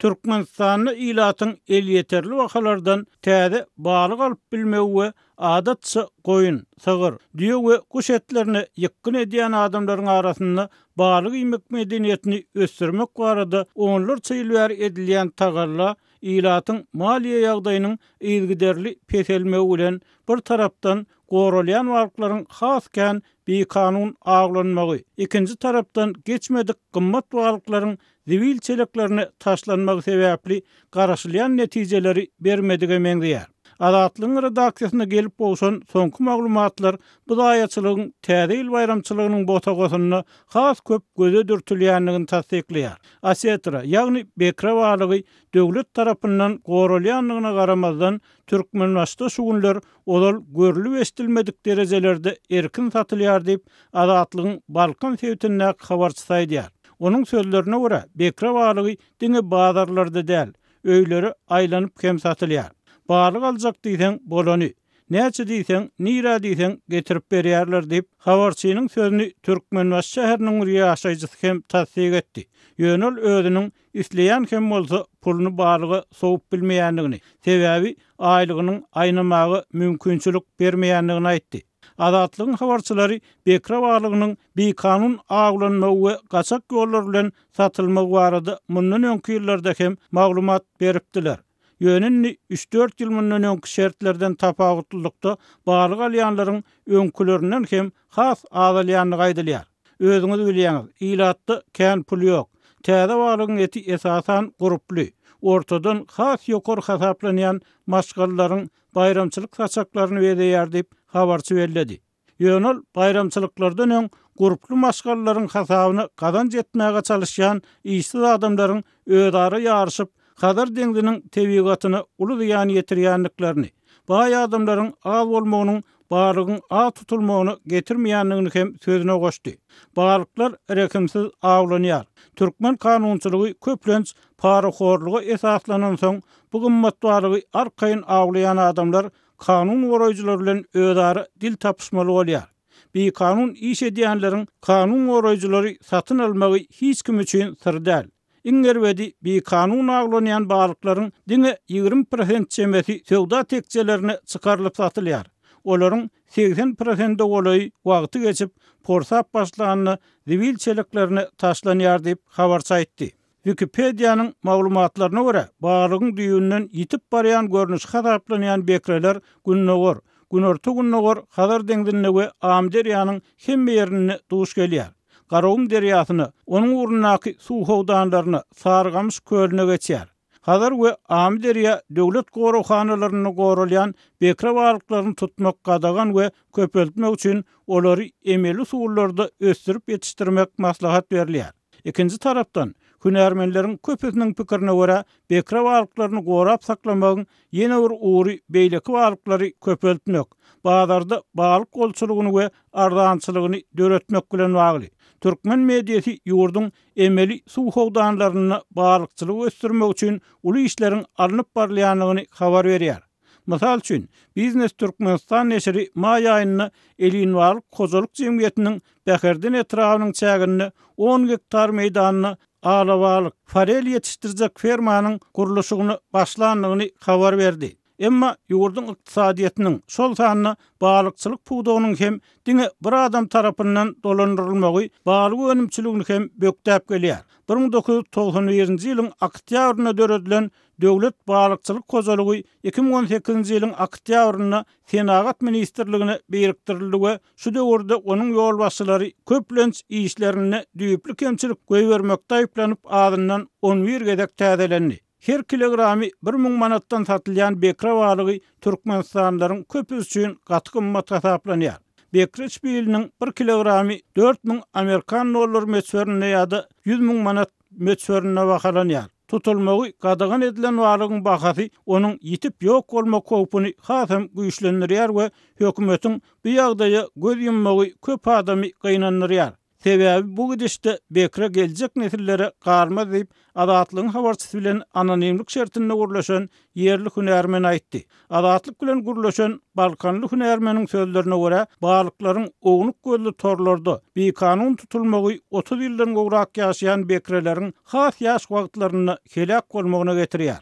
Türkmenistanda ilatyň elýeterli bahalardan täze balyk alyp bilmegi we adatça goýun, sygyr, düýe we guş etlerine ýykgyn edýän adamlaryň arasynda balyk iýmek medeniýetini ösdürmek barada onlarça ýyl bäri edilýän tagalla ilatyň maliýe ýagdaýynyň yzygiderli peselmegi bilen bir tarapdan goralýan balyklaryň has kän bikanun awlanmagy, ikinji tarapdan geçmedik gymmat balyklaryň zibil çeleklerine taşlanmagy sebäpli garaşylýan netijeleri bermedige meňzeýär. Azatlygyň redaksiýasyna gelip gowşan soňky maglumatlar bu zaýaçylygyň Täze ýyl baýramçylygynyň bosagasynda has köp göze dürtülýändigini tassyklaýar. Osetra, ýagny bekre balygy döwlet tarapyndan goralýandygyna garamazdan, Türkmenbaşyda şu günler ozal görlüp-eşidilmedik derejelerde erkin satylýar diýip, Azatlygyň Balkan sebitindäki habarçysy aýdýar. Onuň sözlerine görä, bekre balygy diňe bazarlarda däl, öýlere aýlanyp hem satylýar. Balyk aljak diýseň, bolany, näçe diýseň, nirä diýseň getirip berýärler diýip, habarçynyň sözüni Türkmenbaşy şäheriniň bir ýaşaýjysy hem tassyk etdi. Ýöne ol özüniň isleýän hem bolsa puluny balyga sowup bilmeýändigini, sebäbi aýlygynyň aýnamaga mümkinçilik bermeýändigini aýtdy. Azatlygyň habarçylary bekra balygynyň bikanun awlanmagy we gaçak ýollar bilen satylmagy barada mundan öňki ýyllarda hem maglumat beripdiler. Ýöne indi üç-dört ýyl mundan öňki şertlerden tapawutlylykda balyk alýanlaryň öňkülerinden hem has azalýandygy aýdylýar. Özüňiz bilýäňiz, ilatda kän pul ýok. Täze balygyň eti esasan gurply, ortadan has ýokary hasaplanýan maşgalalaryň baýramçylyk saçaklaryny bezeýär diýip, habarçy belledi. Ýöne ol baýramçylyklardan öň gurply maşgalalaryň hasabyna gazanç etmäge çalyşýan işsiz adamlaryň özara ýaryşyp, Hazar deňziniň tebigatyna uly zyýan ýetirýändiklerini, baý adamlaryň az bolmagynyň balygyň aw tutulmagyna getirmeýändigini hem sözüne goşdy. Balyklar rehimsiz awlanýar. Türkmen kanunçylygy köplenç parahorluga esaslanansoň, bu gymmat balygy arkaýyn awlaýan adamlar kanun goraýjylar bilen özara dil tapyşmaly bolýar. Bikanun iş edýänleriň kanun goraýjylary satyn almagy hiç kim üçin syr däl. Iň erbedi, bikanun awlanýan balyklaryň diňe ýigrimi prosent çemesi söwda tekjelerine çykarylyp satylýar. Olaryň segsen prosende golaýy wagty geçip, porsap başlanda zibil çeleklerine taşlanýar diýip, habarçy aýtdy. Wikipediýanyň maglumatlaryna görä, balygyň düýbünden ýitip barýan görnüşi hasaplanýan bekreler Gündogar, Günorta-Gündogar Hazar deňzinde we Amyderýanyň hemme ýerinde duş gelýär. Garagum derýasyna, onuň ugrundaky suw howdanlaryna, Sarygamyş kölüne geçýär. Hazar we Amyderýa döwlet goraghanalarynda goralýan bekre balyklaryny tutmak gadagan we köpeltmek üçin olary emeli usullarda ösdürip ýetişdirmek maslahat berilýär. Ikinji tarapdan, hünärmenleriň köpüsiniň pikirine görä, bekre balyklaryny gorap saklamagyň Ýene bir ugry beýleki balyklary köpeltmek, bazarda balyk bolçulygyny we arzançylygyny döretmek bilen bagly. Türkmen mediasy ýurduň emeli suw howdanlarynda balykçylygy ösdürmek üçin uly işleriň alnyp barylýandygyny habar berýär. Mysal üçin, Biznes Türkmenistan neşiri maý aýynda Elinbalyk hojalyk jemgyýetiniň Bäherden etrabynyň çäginde on gektar meýdanda alabalyk, forel ýetişdirjek fermanyň gurluşygyna başlandygyny habar berdi. Emma ýurduň ykdysadyýetiniň, şol sanda balykçylyk pudagynyň hem diňe bir adam tarapyndan dolandyrylmagy balyk önümçiligini hem bökdäp gelýär. Bir müň dokuz ýüz togsan birinji ýylyň oktýabrynda döredilen Döwlet balykçylyk hojalygy iki müň on sekizinji ýylyň oktýabrynda Senagat ministrligine birikdirildi we Şu döwürde onuň ýolbaşçylary köplenç işlerinde düýpli kemçilik goýbermekde aýyplanyp azyndan on bir gezek täzelendi. Her kilogramy bir müň manatdan satylýan bekre balygy türkmenistanlylaryň köpüsi üçin gaty gymmat hasaplanýar. Bekre çpiliniň bir kilogramy dört müň amerikan dollary möçberinde ýa-da ýüz müň manat möçberinde bahalanýar. Tutulmagy gadagan edilen balygyň bahasy onuň ýitip ýok bolmak howpuny has hem güýçlendirýär we hökümetiň bu ýagdaýa göz ýummagy köp adamy gynandyrýar. Sebäbi bu gidişde bekre geljek nesillere galmaz diýip, Azatlygyň habarçysy bilen anonimlik şertinde gürleşen ýerli hünärmen aýtdy. Azatlyk bilen gürleşen balkanly hünärmeniň sözlerine görä, balyklaryň ownuk gözli torlarda bikanun tutulmagy otuz ýyldan gowrak ýaşaýan bekreleriň has ýaş wagtlarynda heläk bolmagyna getirýär.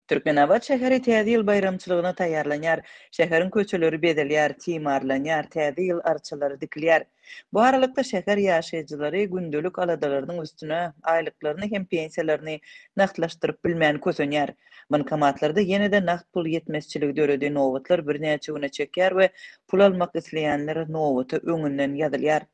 Türkmenabat şäheri Täze ýyl baýramçylygyna taýýarlanýar. Şäheriň köçeleri bezelýär, timarlanýar, Täze ýyl arçalary dikilýär. Bu aralykda, şäher ýaşaýjylary gündelik aladalarynyň üstüne aýlyklaryny hem pensiýalaryny nagtlaşdyryp bilmän kösenýär. Bankomatlarda ýene-de nagt pul ýetmezçiligi döredi, nobatlar birnäçe güne çekýär we pul almak isleýänler nobata öňünden ýazylýar.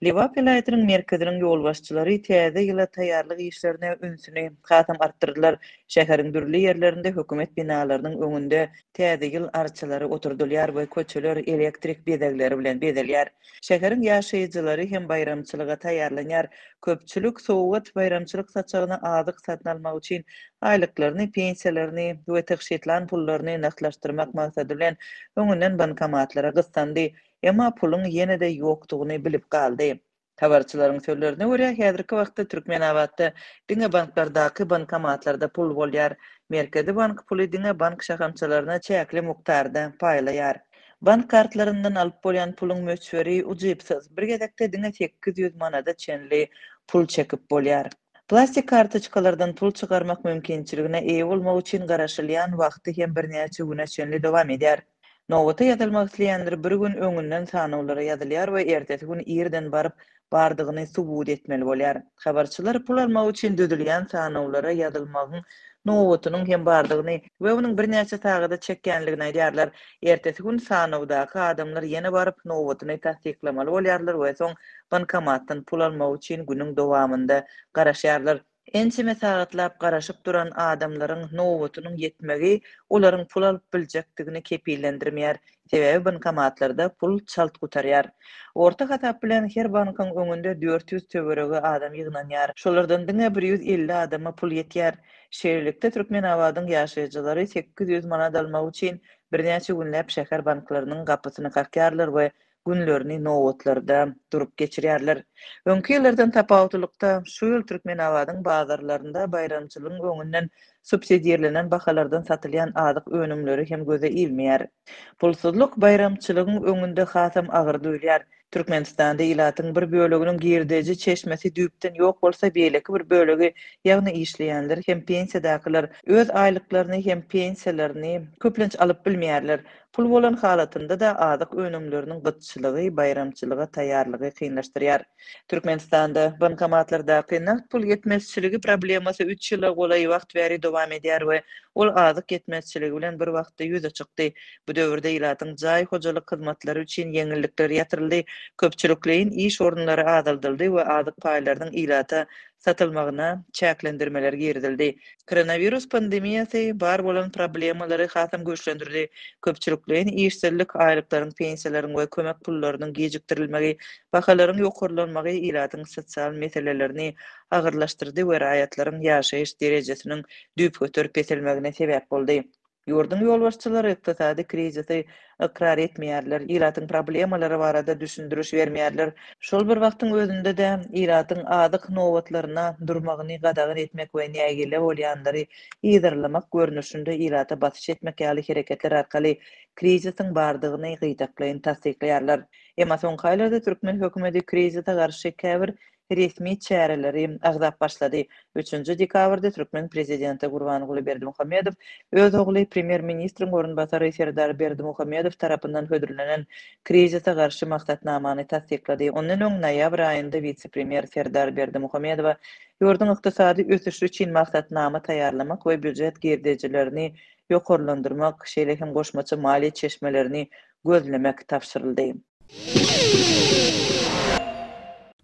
Lebap welaýatynyň merkeziniň ýolbaşçylary Täze ýyla taýýarlyk işlerine ünsüni hasam artdyrdylar, Şäheriň dürli ýerlerinde hökümet binalarynyň öňünde Täze ýyl arçalary oturdylýar we köçeler elektrik bezegleri bilen bezelýär. Şäheriň ýaşaýjylary hem baýramçylyga taýýarlanýar. Köpçülik sowgat, baýramçylyk saçagyna azyk satyn almak üçin aýlyklaryny, pensiýalaryny we tygşytlan pullaryny nagtlaşdyrmak maksady bilen öňünden bankomatlara gyssandy, emma puluň ýene-de ýokdugyny bilip galdy. Habarçylaryň sözlerine görä, häzirki wagtda Türkmenabatda diňe banklardaky bankomatlarda pul bolýar. Merkezi bank puly diňe bank şahamçalaryna çäkli mukdarda paýlaýar. Bank kartlaryndan alyp bolýan puluň möçberi ujypsyz, bir gezekde diňe sekiz ýüz manada çenli pul çekip bolýar. Plastik kartoçkalardan pul çykarmak mümkinçiligine eýe bolmak üçin garaşylýan wagty hem birnäçe güne çenli dowam edýär. Nobata ýazylmak isleýänler bir gün öňünden sanawlara ýazylýar we ertesi gün irden baryp, bardygyny subut etmeli bolýar. Habarçylar pul almak üçin düzülýän sanawlara ýazylmagyň nobatynyň hem bardygyny we onuň birnäçe sagada çekýänligini aýdýarlar. Ertesi gün sanawdaky adamlar ýene baryp, nobatyny tassyklamaly bolýarlar we soň bankomatdan pul almak üçin günüň dowamynda garaşýarlar. Ençeme sagatlap garaşyp duran adamlaryň nobatynyň ýetmegi olaryň pul alyp biljekdigini kepillendirmeýär, sebäbi bankomatlarda pul çalt gutarýar. Orta hasap bilen her bankyň öňünde dört ýüz töweregi adam ýygnanýar. Şolardan diňe bir ýüz elli adama pul ýetýär. Şeýlelikde, Türkmenabadyň ýaşaýjylary sekiz ýüz manat almak üçin birnäçe günläp şäher banklarynyň gapysyny kakýarlar we günlerini nobatlarda durup geçirýärler. Öňki ýyllardan tapawutlylykda, şu ýyl Türkmenabadyň bazarlarynda baýramçylygyň öňünden subsidirlenen bahalardan satylýan azyk önümleri hem göze ilmeýär. Pulsuzlyk baýramçylygyň öňünde hasam agyr duýulýar. Türkmenistanda ilatyň bir böleginiň girdeji çeşmesi düýpden ýok bolsa, beýleki bir bölegi, ýagny işleýänler hem pensiýadakylar öz aýlyklaryny hem pensiýalaryny köplenç alyp bilmeýärler. Pul bolan halatynda-da azyk önümleriniň gytçylygy baýramçylyga taýýarlygy kynlaşdyrýar. Türkmenistanda bankomatlardaky nagt pul ýetmezçiligi problemasy üç ýyla golaý wagt bäri dowam edýär we ol azyk ýetmezçiligi bilen bir wagtda ýüze çykdy. Bu döwürde ilatyň jaý hojalyk hyzmatlary üçin ýeňillikler ýatyryldy, köpçülikleýin iş orunlary azaldyldy we azyk paýlarynyň ilata satylmagyna çäklendirmeler girizildi. Koronawirus pandemiýasy bar bolan problemalary hasam güýçlendirdi, köpçülikleýin işsizlik, aýlyklaryň, pensiýalaryň we kömek pullarynyň gijikdirilmegi, bahalaryň ýokarlanmagy ilatyň sosial meselelerini agyrlaşdyrdy we raýatlaryň ýaşaýyş derejesiniň düýpgöter peselmegine sebäp boldy. Ýurduň ýolbaşçylary ykdysady krizisi ykrar etmeýärler, ilatyň problemalary barada düşündiriş bermeýärler, şol bir wagtyň özünde-de ilatyň azyk nobatlaryna durmagyny gadagan etmek we nägile bolýanlary yzarlamak görnüşinde ilata basyş etmek ýaly hereketler arkaly krizisiň bardygyny gytaklaýyn tassyklaýarlar. Emma soňky aýlarda türkmen hökümeti krizise garşy käbir resmi çäreleri agzap başlady. Üçünji dekabrda türkmen prezidenti Gurbanguly Berdimuhamedow öz ogly, premýer-ministriň orunbasary Serdar Berdimuhamedow tarapyndan hödürlenen Krizise garşy maksatnamany tassyklady. Ondan öň, noýabr aýynda wise-premýer Serdar Berdimuhamedowa ýurduň ykdysady ösüşi üçin maksatnama taýýarlamak we býujet girdejilerini ýokarlandyrmak, şeýle hem goşmaça maliýe çeşmelerini gözlemek tabşyryldy.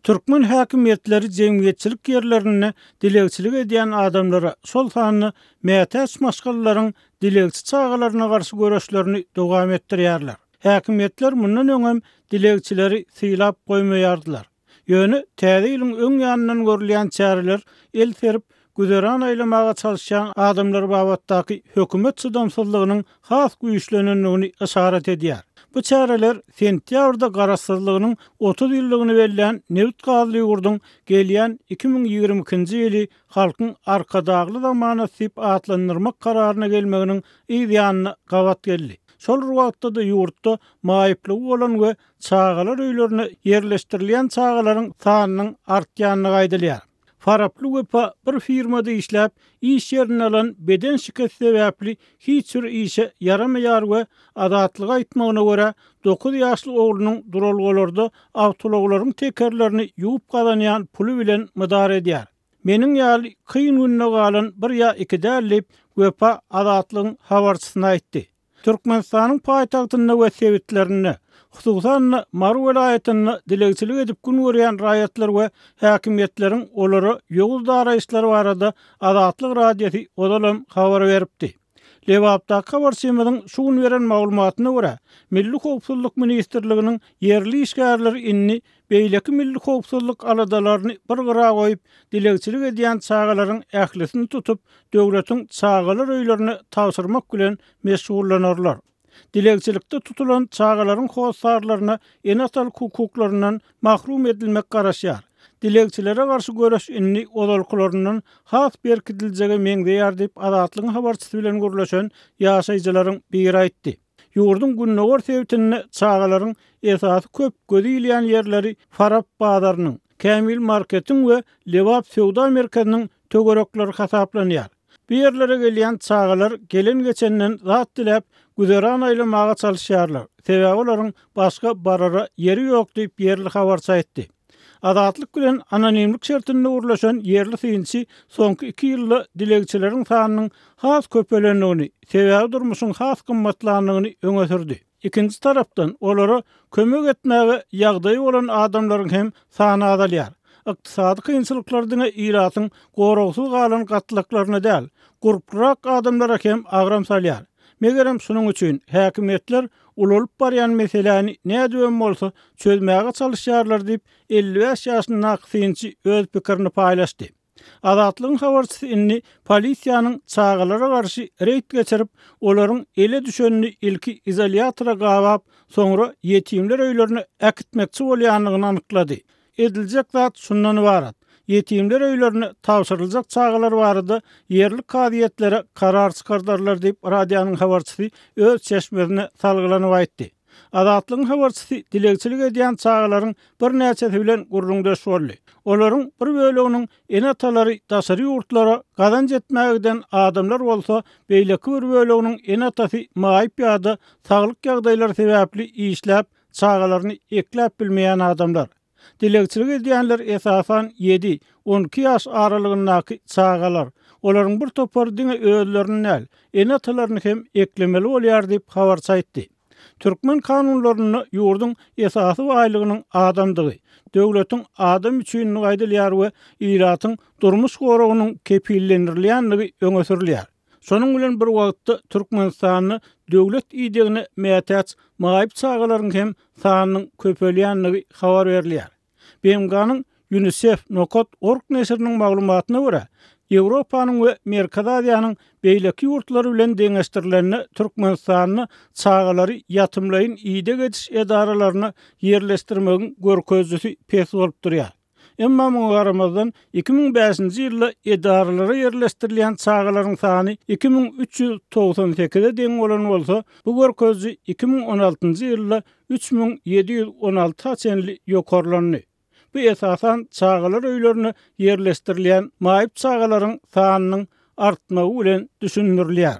Türkmen häkimiýetleri jemgyýetçilik ýerlerinde dilegçilik edýän adamlara, şol sanda mätäç maşgalalaryň dilegçi çagalaryna garşy göreşlerini dowam etdirýärler. Häkimiýetler mundan öňem dilegçileri sylap goýmaýardylar. Ýöne Täze ýylyň öň ýanyndan görülýän çäreler el serip, güzeran aýlamaga çalyşýan adamlar babatdaky hökümet çydamsyzlygynyň has güýçlenendigini yşarat edýär. Bu çäreler sentýabrda garaşsyzlygynyň otuz ýyllygyny bellän nebit-gazly ýurduň gelýän iki müň ýigrimi ikinji ýyly Halkyň Arkadagly zamanasy diýip atlandyrmak kararyna gelmeginiň yz ýanyna gabat geldi. Şol bir wagtda-da ýurtda maýyplygy bolan we Çagalar öýlerine ýerleşdirilýän çagalaryň sanynyň artýandygy aýdylýar. Faraply Wepa bir firmada işläp, iş ýerinde alan beden şikesi sebäpli hiç bir işe ýaramaýar we Azatlyga aýtmagyna görä, dokuz ýaşly oglunyň duralgalarda awtoulaglaryň tekerlerini ýuwup gazanýan puly bilen mydar edýär. Meniň ýaly kyn günde galan bir ýa iki däl diýip, Wepa Azatlygyň habarçysyna aýtdy. Türkmenistanyň paýtagtynda we sebitlerinde, hususan-da, Mary welaýatynda dilegçilik edip gün görýän raýatlar we häkimiýetleriň olara ýowuz daraýyşlary barada Azatlyk Radiosy ozal hem habar beripdi. Lebapdaky habarçymyzyň şu gün beren maglumatyna görä, Milli howpsuzlyk ministrliginiň ýerli işgärleri indi beýleki milli howpsuzlyk aladalaryny bir gyra goýup, dilegçilik edýän çagalaryň ählisini tutup, döwletiň çagalar öýlerine tabşyrmak bilen meşgullanarlar. Dilegçilikde tutulan çagalaryň hossarlaryna ene-atalyk hukuklaryndan mahrum edilmek garaşýar. Dilegçilere garşy göreş indi ozalkylaryndan has berkidiljege meňzeýär diýip, Azatlygyň habarçysy bilen gürleşen ýaşaýjylaryň biri aýtdy. Ýurduň gündogar sebitinde çagalaryň esasy köp gözi ilýän ýerleri Farap bazarynyň, Kämil marketiň we Lebap söwda merkeziniň töwerekleri hasaplanýar. Bu ýerlere gelýän çagalar gelen-geçenden zat diläp, güzeran aýlamaga çalyşýarlar, sebäbi olaryň başga barara ýeri ýok diýip, ýerli habarçy aýtdy. Azatlyk bilen anonimlik şertinde gürleşen ýerli synçy soňky iki ýylda dilegçileriň sanynyň has köpelendigini, sebäbi durmuşyň has gymmatlandygyny öňe sürdi. Ikinji tarapdan, olara kömek etmäge ýagdaýy bolan adamlaryň hem sany azalýar. Ykdysady kynçylyklar diňe ilatyň goragsyz galan gatlaklaryna däl, gurplurak adamlara hem agram salýar. Megerem, şunuň üçin häkimiýetler ulalyp barýan meseläni nädibem bolsa çözmäge çalyşýarlar diýip, elli bäş ýaşyndaky synçy öz pikirini paýlaşdy. Azatlygyň habarçysy indi polisiýanyň çagalara garşy reýd geçirip, olaryň ele düşenini ilki izolýatora gabap, soňra ýetimler öýlerine äkitmekçi bolýandygyny anyklady. Ediljek zat şundan ybarat, ýetimler öýlerine tabşyryljak çagalar barada ýerli kazyýetlere karar çykardarlar diýip, radionyň habarçysy öz çeşmesine salgylanyp aýtdy. Azatlygyň habarçysy dilegçilik edýän çagalaryň birnäçesi bilen gürrüňdeş boldy. Olaryň bir böleginiň ene-atalary daşary ýurtlara gazanç etmäge giden adamlar bolsa, beýleki bir böleginiň ene-atasy maýyp ýa-da saglyk ýagdaýlary sebäpli işläp, Çagalaryny ekläp bilmeýän adamlar. Dilegçilik edýänler esasan ýedi, on iki ýaş aralygyndaky çagalar. Olaryň bir topary diňe özlerini däl, ene-atalaryny hem eklemeli bolýar diýip, habarçy aýtdy. Türkmen kanunlarynda ýurduň esasy baýlygynyň adamdygy, döwletiň adam üçindigi aýdylýar we ilatyň durmuş goragynyň kepillendirilýändigi öňe sürülýär. Şonuň bilen bir wagtda, Türkmenistanda döwlet idegine mätäç maýyp çagalaryň hem sanynyň köpelýändigi habar berilýär. BMG-niň Ýunisef. Nokat. Org neşiriniň maglumatyna görä, Ýewropanyň we Merkezi Aziýanyň beýleki ýurtlary bilen deňeşdirilende, Türkmenistanda çagalary ýatymlaýyn ideg ediş edaralaryna ýerleşdirmegiň görkezijisi pes bolup durýar. Emma muňa garamazdan, iki müň bäşinji ýylda edaralara ýerleşdirilýän çagalaryň sany iki müň üç ýüz togsan sekize deň bolan bolsa, bu görkeziji iki müň on altynjy ýylda üç müň ýedi ýüz on alty-a çenli ýokarlandy. Bu esasan çagalar öýlerine ýerleşdirilýän maýyp çagalaryň sanynyň artmagy bilen düşündirilýär.